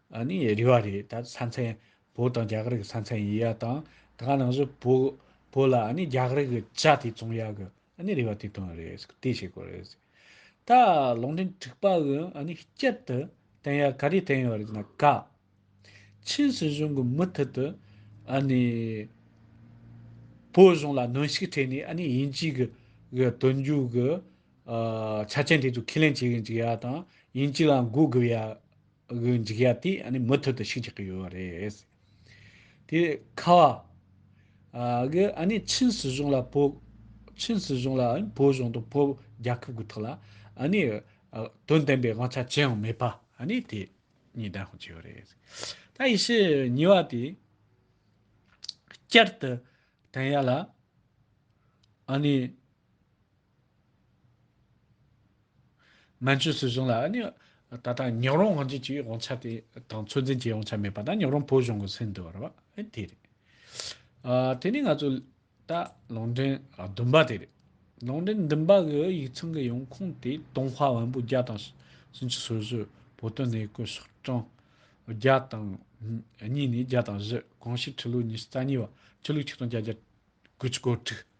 ཨ་ནི་རི་བ་རེད་ད་ས་མཚན་བོད་དང་རྒྱ་གར་གི་ས་མཚན་ཡིན་ཡ་དང་ད་ག་ནང་བཞིན་བོད་བོད་ལ་ཨ་ནི་རྒྱ་གར་གི་ཇ་དེ་བཙོང་ཡ་གི་ཨ་ནི་རི་བ་དེ་དོན་རེད་སྐུ་དེ་བྱེད་དགོས་རེད་ད་ལུང་འདྲེན་འཁྲིག་པ་གི་ཨ་ནི་སྐྱིད་དུ་བསྟན་ཡ་ག་རེ་བསྟན་ཡོད་རེད་ན་ག་ཆིན་སྲིད་གཞུང་གི་མུ་མཐུད་དུ་ཨ་ནི་བོད་གཞུང་ལ་གནོན་ཤུགས་ཁྲེས་ནས་ཨ་ནི་དབྱིན་ཇིའི་གི་གི་དོན་རྒྱུག་གི་ཆ་རྐྱེན་དེ་ཚོ་ཁས་ལེན་བྱེད་གི་འཇུག་ཡ་དང་དབྱིན་ཇི་ལ་མགོ་དགུ་ཡ། གི་འཇིགས་ཡ་དེ་ནི་མུ་མཐུད་དུ་ཞུགས་ཆགས་ཀྱི་ཡོད་པ་རེད། དེ་ཁ་བ། གི་ཨ་ནི་ཆིན་སྲིད་གཞུང་ལ་བོད། ཆིན་སྲིད་གཞུང་ལ་ཨིན་བོད་གཞུང་དང་བོད་རྒྱལ་ཁབ་ཀྱི་ཐོག་ལ་ཨ་ནི་དོན་ལྡན་པའི་དབང་ཆ་ཅི་ཡང་མེད་པ་ཨ་ནི་དེ་གཉིས་བདེན་དཔང་བྱས་ཡོད་རེད། ད་ཡེ་ཤེས་ཉི་བ་དེ་བསྐྱར་དུ་དེང་ཡ་ལ་ཨ་ནི་ནང་ཆོས་སྲིད་གཞུང་ལ་ནི། ད་ལྟ་ཉག་རོང་དབང་ཆེན་གྱི་དབང་ཆ་དེ་དང་ཚོད་འཛིན་བྱེད་དབང་ཆ་མེད་པ་དང་ཉག་རོང་བོད་གཞུང་གི་སྲིད་འདོད་རེད་པ་དེ་རེད། དེ་ནི་ང་ཚོ་ད་ལུང་འདྲེན་བདུན་པ་དེ་རེད། ལུང་འདྲེན་བདུན་པ་གི་ཡིག་ཚང་གི་ཡོང་ཁུངས་དེ་ཏུང་ཧྭ་བན་པོ་བརྒྱ་དང་སུམ་ཅུ་སོ་བཞི་བོད་དོན་གནས་སྐོར་ཤག་གྲངས་བརྒྱ་དང་གཉིས་ནས་བརྒྱ་དང་བཞི་གང་ཞིག་ཁྲི་ལོ་ཉི་ཤུ་རྩ་གཉིས་པ་ཆོས་ལུགས་ཆིག་སྟོང་བརྒྱ་རྒྱ་དགུ་ཅུ་གོ་དྲུག།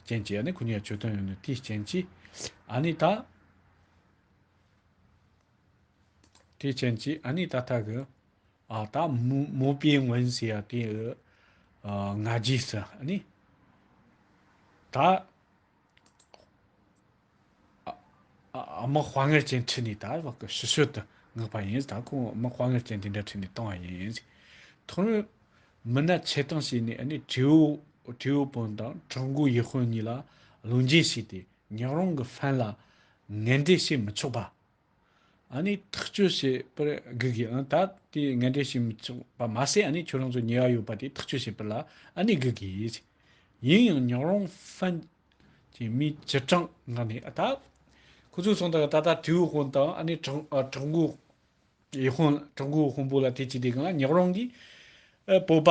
རྐྱེན་གྱིས་ཨ་ནི་གུ་ཉའི་ཆོས་སྟོན་ཡོང་ནུས་དེའི་རྐྱེན་གྱིས། ཨ་ནི་ད། དེའི་རྐྱེན་གྱིས་ཨ་ནི་ད་ལྟ་གི། ཨ་ད་མོ་པའི་ངོན་ཟེར་ཡ་དེ། ང་རྒྱས་སུ་ཨ་ནི། ད། དམག་དཔའ་ངེར་ཅན་ཁྲིད་ནས་དར་བབ་ཀྱི་ཕྱི་ཤོལ་དུ་མངགས་པ་ཡིན། ད་ཁོང་དམག་དཔའ་ངེར་ཅན་དེ་འདྲ་ཁྲིད་ནས་བཏང་བ་ཡིན། ཐོག་མར་མི་སྣ་ཆེད་བཏང་བྱས་ནས་ནི་ཁྲིའུ་དཔོན་དང་ཁྲག་མགོའི་ཡེ་ཧོན་གཉིས་ལ་ལུང་བསྟན་བྱས་ཏེ། ཉག་རོང་གི་ཧྥན་ལ་ངན་འབྲེལ་བྱེད་མི་ཆོག་པ། ཨ་ནི་ཐག་གཅོད་བྱེད་པར་སྒུག་གི་ཨང་ད་དེ་ངན་འབྲེལ་བྱེད་མི་ཆོག་པ་མ་ཟད་ཨ་ནི་ཁྱོད་རང་ཚོ་ཉེ་བ་ཡོད་པ་དེ་ཐག་གཅོད་བྱེད་པར་ལ་ཨ་ནི་སྒུག་གི་ཡོད། ཡིན་ཡང་ཉག་རོང་ཧྥན་གྱི་མི་སྤྱི་དྲང་ངང་ནས་ཨ་ད། ཁོ་ཚོའི་ཚོང་དང་ད་ད་དུས་དབུལ་དཔོན་དང་ཨ་ནི་དྲང་དགུའི་དབོན་དྲང་དགུའི་དབོན་པོ་ལ་དེ་བྱས་དེ་གང་ལ་ཉག་རོང་གི་སྤོབས་པ་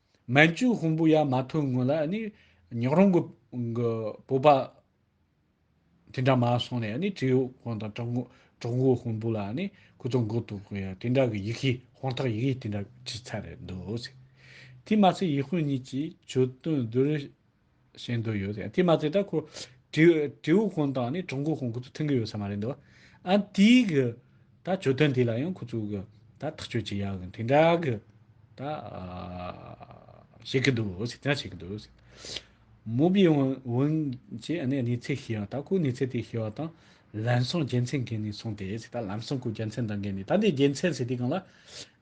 མན་ཅུའི་ཧོང་པོ་ཡར་མ་ཐོན་སྔོན་ལ་ནི་ཉག་རོང་གི་བོད་པ་དེ་འདྲ་མ་སོང་ནས་ནི་ཀྲི་ཡོག་ཧོང་དང་ཀྲོག་མགོ་ཧོང་པོ་ལ་ནི་སྐུ་ཚོགས་འགོ་གཏུག་གི་ཡ་དེ་འདྲ་གི་ཡིག་གཞི་ཧོང་ཐག་ཡིག་གཞི་དེ་འདྲ་བྲིས་ཚར་འདུག། དེ་མ་ཚད་ཡིག་དཔོན་གཉིས་ཀྱིས་ཆོས་དོན་བསྡུ་རུ། བཞིན་དུ་ཡོད་ཟེར། དེས་མ་ཚད་ད་ཁོ་དྲེའུ་ཧོང་དང་ནི་གྲོང་ཁོ་ཧོང་ཁོ་ཚོ་མཐུན་གི་ཡོད་ས་མ་རེད་འདུག་ཨ། དེའི་གི་ད་གྱོད་དོན་དེ་ལ་ཡང་ཁོ་ཚོ་གི་ད་ཐག་གཅོད་བྱེད་ཡག་གི་དེ་འདྲ་གི་ད་བྱེད་གི་འདུག་ཟེར་དེ་འདྲ་བྱེད་གི་འདུག་ཟེར། མོ་པི་ཝུན་གྱིས་ཨ་ནི་ནི་ཚེ་ཤི་ཡང་ད་ཁོའི་ནི་ཚེ་དེ་ཤི་བ་དང་ལམ་སང་རྒྱལ་མཚན་གན་ནི་སོང་སྟེ་ཟེར་ད་ལམ་སང་ཁོའི་རྒྱལ་མཚན་དང་གན་ནི་ད་འདི་རྒྱལ་མཚན་ཟེར་དེ་གང་ལ་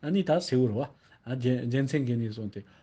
ཨ་ནི་ད་སེའུ་རོ་ཨ་རྒྱལ་མཚན་གན་ནི་སོང་སྟེ་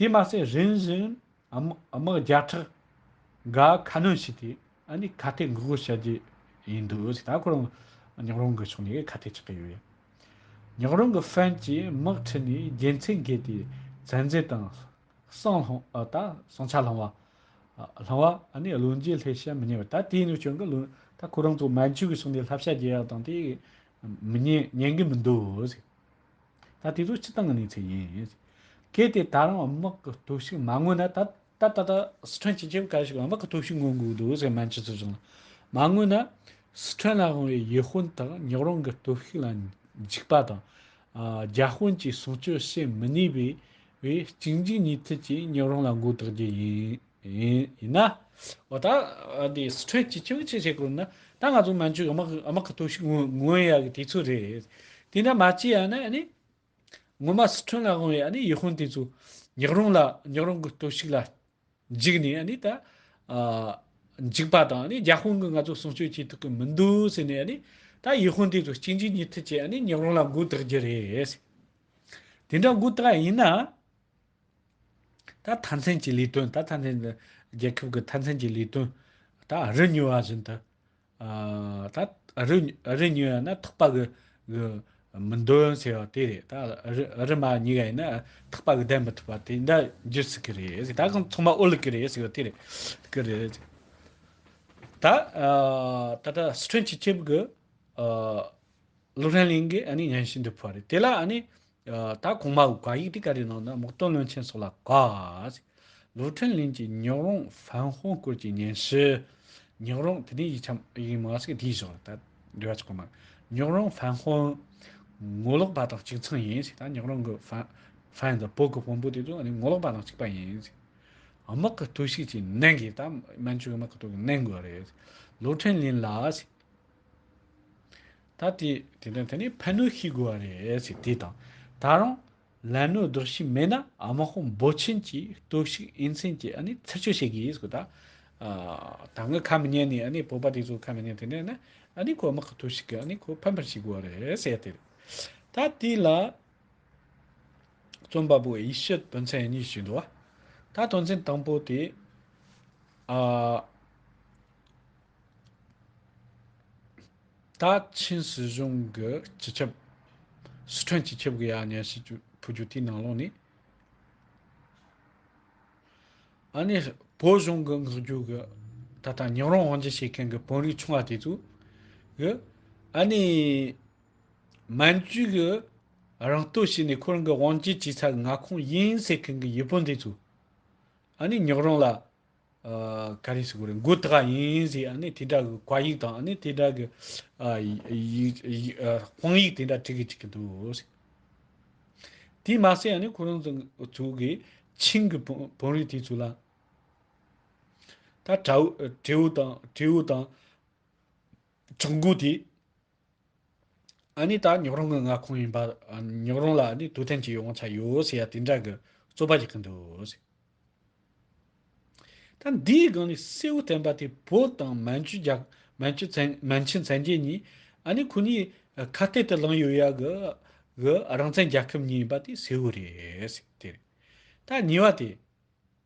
དེས་མ་ཟད་རིམ་བཞིན་དམག་བརྒྱ་ཕྲག་འགའ་ཁ་སྣོན་བྱས་ཏེ་ཁ་གཏད་འགུག་རྒོལ་བྱ་རྒྱུ་ཡིན་འདུག་ཟེར་ད་གོ་རང་ཉག་རོང་གི་ཕྱོགས་ནས་ཁ་གཏད་ཆགས་ཀྱི་ཡོད། ཉག་རོང་གི་ཧྥན་གྱིས་དམག་ཁྲིད་ནས་རྒྱལ་མཚན་བགད་དེ་ཚན་རྩལ་དང། གསང་ཆ་བསླང་བ། བློན་རྗེས་སླེ་བྱ་མི་ཉན་པ་ད་དེ་ཡིན་ནོ་སྐྱོན་གི་བློན་ད་ཁོ་རང་ཚོ་མན་ཇུ་གི་ཕྱོགས་ནས་ལྷ་བྱ་རྒྱལ་ཡག་དང་དེ་མི་ཉན་ཉན་གི་མི་འདུག་ཟེར། ད་དེ་ཚོ་ཕྱི་བཏང་གི་གནས་ཚུལ་ཡིན། གལ་ཏེ་ད་རང་དམག་གི་སྟོབས་ཤུགས་མ་མངོན་ན་ད་ད་ལྟ་སི་ཁྲོན་སྤྱི་ཁྱབ་ཁ་ཞིག་དམག་གི་སྟོབས་ཤུགས་མངོན་དགོས་འདུག་ཟེར་སྨན་སྤྱི་ཚོགས་བྱུང་ལ། མ་མངོན་ན་སི་ཁྲོན་ལ་དབང་བའི་ཡེ་ཧྥོན་དག་ཉག་རོང་གི་སྟོབས་ཤུགས་ལ་འཇིགས་པ་དང། རྒྱ་དཔོན་གྱིས་གསུང་ཆོས་བཤད་མི་ནུས་པའི་བས་གཅིག་འཇིག་གཉིས་མཐུད་ཀྱིས་ཉག་རོང་ལ་མགོ་བཏགས་རྒྱུ་ཡིན། ཡིན། ཡིན་ན། འོ་ད། འདི་སི་ཁྲོན་སྤྱི་ཁྱབ་ཅིག་བྱེད་དགོས་ན། ད་ང་ཚོ་མན་ཇུ་དམག་དམག་གི་ཐུགས་ཤིག་མངོན་ཡག་གི་དེ་ཚོ་རེད། དེ་འདྲ་མ་བྱས་ཡག་ན་ནི། ངོ་མ་སི་ཁྲོན་ལ་དབང་བའི་ཡེ་ཧུན་དེ་ཚོ། ཉག་རོང་ལ་ཉག་རོང་གི་ཐུགས་ཤིག་ལ། འཇིགས་ནས་ནི་ད། འཇིགས་པ་དང་ནི་རྒྱ་དཔོན་གི་ང་ཚོ་སྲུང་སྐྱོབ་བྱེད་ཐུབ་ཀི་མི་འདུག་ཟེར་ནས་ནི། ད་ཡེ་ཧུན་དེ་ཚོ་གཅིག་འཇིགས་གཉིས་མཐུད་བྱས་ནི་ཉག་རོང་ལ་འགུག་ཐག་རྒྱུ་རེད། དེ་འདྲ་འགུག་ཐག་ཡིན་ན། ད་ཐཱན་ཚན་གྱི་ལས་དོན་ད་ཐཱན་ཚན་ནི་རྒྱལ་ཁབ་ཀྱི་ཐཱན་ཚན་གྱི་ལས་དོན་ད་རི་ཉུལ་བ་བཞིན་དུ། ད་རི་རི་ཉུལ་བ་ནི་ཐག་པ་གི་གི་མི་འདོན་ཟེར་བ་དེ་རེད། ད་རི་རི་མ་ཉིལ་བ་ཡིན་ན་ཐག་པ་གི་བསྡད་མི་ཐུབ་པ་དེ་འདྲ་འགྱུར་སྲིད་ཀྱི་རེད། ད་གང་ཚང་མ་ཨོ་ལི་ཀི་རེད་ཟེར་བ་དེ་རེད་ཀི་རེད། ད་ད་ལྟ་སི་ཁྲོན་སྤྱི་ཁྱབ་ཀྱི་སློབ་རན་གླིང་གི་ཨ་ནི་ཉན་ཞིང་འདི་ཕོ་བ་རེད། དེ་ལ་ཨ་ནི། ད་གོང་མ་དགག་ཡིག་དེ་ག་རེ་གནང་ན་མག་སྟོན་བློན་ཆེན་སོགས་ལ་དགག། ལོ་ཁྲིན་ལིན་གྱི་ཉག་རོང་ཧྥན་ཧོ་སྐོར་གྱི་ཉན་ཞི། ཉག་རོང་དེ་ནས་ཡིག་ཆ་ཡིག་མ་ཟིག་དེའི་བཞག་ལ་ད་འབྲེལ་བ་ཆགས་པ་མ་རེད། ཉག་རོང་ཧྥན་ཧོ། ངོ་ལོག་པ་དང་གཅིག་མཚུངས་ཡིན་ཟེར་ད་ཉག་རོང་གི་ཧྥན་དང་བོད་ཀྱི་དཔོན་པོ་དེ་ཚོ་ངོ་ལོག་པ་དང་གཅིག་པ་ཡིན་ཟེར། དམག་གི་གཏོས་ཤིག་ཅིག་གནང་གིས་ད་མན་ཇུ་གི་དམག་གི་གཏོས་ཀྱི་གནང་དགོས་རེད། ལོ་ཁྲིན་ལིན་ལ། ད་དེ་དེ་དང་དེ་ནས་ཕན་གནོད་ཤེས་དགོས་བ་རེད་ཟེར་དེ་དང་ད་རུང་ལན་གནོད་ལྡོག་བྱས་མེད་ན་དམག་དཔུང་འབོར་ཆེན་གྱིས་གཏོར་བཤིག་དབྱེ་མཚན་གྱིས་ཨ་ནི་ཚིག་གཅོད་བྱེད་ཀྱི་ཡིན་ཟེར་གོ་ད་ད་ངས་ཁ་མི་ཉན་ནས་ཨ་ནི་བོད་པ་དེ་ཚོ་ཁ་མི་ཉན་དེ་ནས་ན་ཨ་ནི་ཁོ་དམག་གི་གཏོར་བཤིག་གི་ཨ་ནི་ཁོ་ཕན་པར་བྱེད་དགོས་བ་རེད་ཟེར་དེ་རེད་ད་དེ་ལ་རྩོམ་པ་པོ་ཡེ་ཤུ་དོན་ཚན་གཉིས་ཞུས་འདུག་བ་ད་དོན་ཚན་དང་པོ་དེ་ཨ། ད་ཕྱིན་སྲིད་གཞུང་གི་སྤྱི་ཁྱབ། སི་ཁྲོན་སྤྱི་ཁྱབ་གི་ཡ་ཉན་ཞིག་ཕུལ་རྒྱུ་དེའི་ནང་ལོགས་ནས། ཨ་ནི་བོད་གཞུང་གི་ངག་རྒྱུན་གྱི་ད་ལྟ་ཉིང་རོང་དབང་འབྱེད་བྱེད་མཁན་གྱི་བོན་རིགས་ཆུང་བ་དེ་ཚོ། གི་ཨ་ནི་མན་ཇུའི་གི་རང་སྟོད་བྱས་ནས་ཁོ་རང་གི་དབང་འབྱེད་བྱས་ཚར་གི་མངའ་ཁོངས་ཡིན་ཟེར་མཁན་གྱི་ཡུལ་བོན་དེ་ཚོ། ཨ་ནི་ཉིག་རོང་ལ། ག་རེ་ཞིག་གོ་རེ་འགོ་དགའ་ཡིན་ཟེར་ཨ་ནི་དེ་འདྲ་གི་གོ་ཡིག་དང་ཨ་ནི་དེ་འདྲ་གི་དཔང་ཡིག་དེ་འདྲ་བྲི་གི་བྲི་གི་འདུག། དེས་མ་ཟད་ཨ་ནི་ཁོ་རང་ཚོ་གི་ཆིང་གི་བོན་རིགས་དེ་ཚོ་ལ་ད་དྲེའུ་དང་ཁྲོང་གོ་དེ། ཨཱ་ནི་ད་ཉོག་རོང་གི་མངའ་ཁོངས་ཡིན་པ་ཉོག་རོང་ལ་ཨཱ་ནི་དུས་ཐེངས་གཅིག་ཡོང་ཆ་ཡོད་ཟེར་ཡ་དེ་འདྲ་གི་རྩོད་པ་རྒྱག་གི་འདུག། ད་འདིའི་སྒང་ནས་སྲས་བུ་བསྟན་པ་དེ་བོད་དང་མན་ཇུ་རྒྱ་མན་ཇུ་མཚན་མན་ཆིན་མཚན་རྒྱས་གཉིས་ཨཱ་ནི་ཁོ་གཉིས་ཁ་གཏད་དུ་ལངས་ཡོད་ཡ་གི་གི་རང་བཙན་རྒྱལ་ཁབ་གཉིས་ཡིན་པ་དེ་སྲས་བུ་རེད་ཟེར་དེ་རེད། ད་ཉིས་བ་དེ།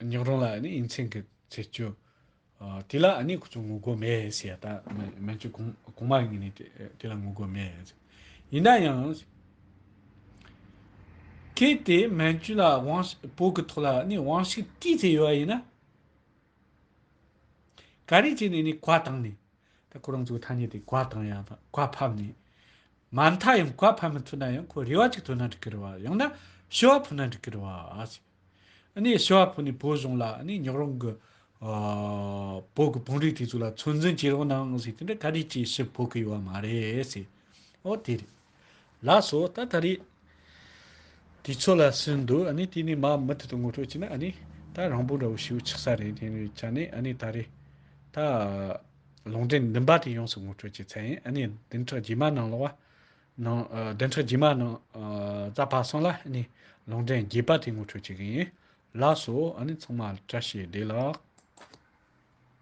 ཉག་རོང་ལ་ཡིན་ཚེ་གི་ཚེ་སྐྱོ། དེ་ལ་ཁོ་ཚོ་ངུ་དགོས་མེད་ཟེར་ཡ་ད་སྨན་བཅོས་གོང་མ་ཡིན་ནི་དེ་ལ་ངུ་དགོས་མེད། ཡིན་ན་ཡང། གལ་ཏེ་སྨན་བཅོས་ལ་དབང་བོ་གི་ཐོག་ལ་དབང་ཤུགས་བསྐྱེད་ཚེ་ཡོད་པ་ཡིན་ན། ག་རེ་བྱས་ནས་ནི་གོ་བཏང་ནས། ད་ཁོ་རང་ཚོའི་ཐ་སྙད་དེ་གོ་བཏང་ཡ་ད་གོ་ཕབ་ནས། མ་མཐའ་ཡང་གོ་ཕབ་མི་ཐུབ་ན་ཡང་ཁོ་རེ་བ་ཅིག་ཐོན་ན་འགྲིག་གི་རེད་བ། ཡང་ན་ཤི་བ་ཐོན་ན་འགྲིག་གི་རེད་བ། ནས་ཤི་བ་ཕོ་ནས་བོད་གཞུང་ལ་ནས་ཉག་རོང་གི་བོད་ཀྱི་བང་རིགས་དེ་ཚོ་ལ་ཚོད་འཛིན་བྱེད་རོགས་གནང་ཟེར་དེ་འདྲ་ག་རེ་བྱེད་ཤི་ཕོ་གི་ཡོད་བ་མ་རེད་ཟེར། ཨོ་དེ་རེད། ལགས་སོ་ད་ད་རེས་དེ་ཚོ་ལ་སུན་འདུག་ཨ་ནས་དེ་ནས་མ་མུ་མཐུད་དུ་ངོ་སྤྲོད་བྱེད་ན་ཨ་ནས་ད་རང་བོད་འདྲ་བོ་ཞིག་ཆགས་ས་རེད་དེ་འདྲ་བྱས་ནས་ཨ་ནས་ད་རེས་ད་ལུང་འདྲེན་འདི་འབའ་དེ་ཡོངས་སུ་ངོ་སྤྲོད་བྱེད་ཚད་ཡིན་ཨ་ནས་བདུན་ཕྲག་རྗེས་མ་ནང་ལོགས་བ། ནང་བདེན་ཁྲི་རྗེས་མ་ནང་རྩ་བར་སོང་ལ་ནི་ལུང་འདྲེན་རྒྱས་པ་དེ་ངོ་འཕྲོད་བྱེད་ཀྱི་ཡིན། ལགས་སོ། ཚང་མ་བཀྲ་ཤིས་བདེ་ལགས།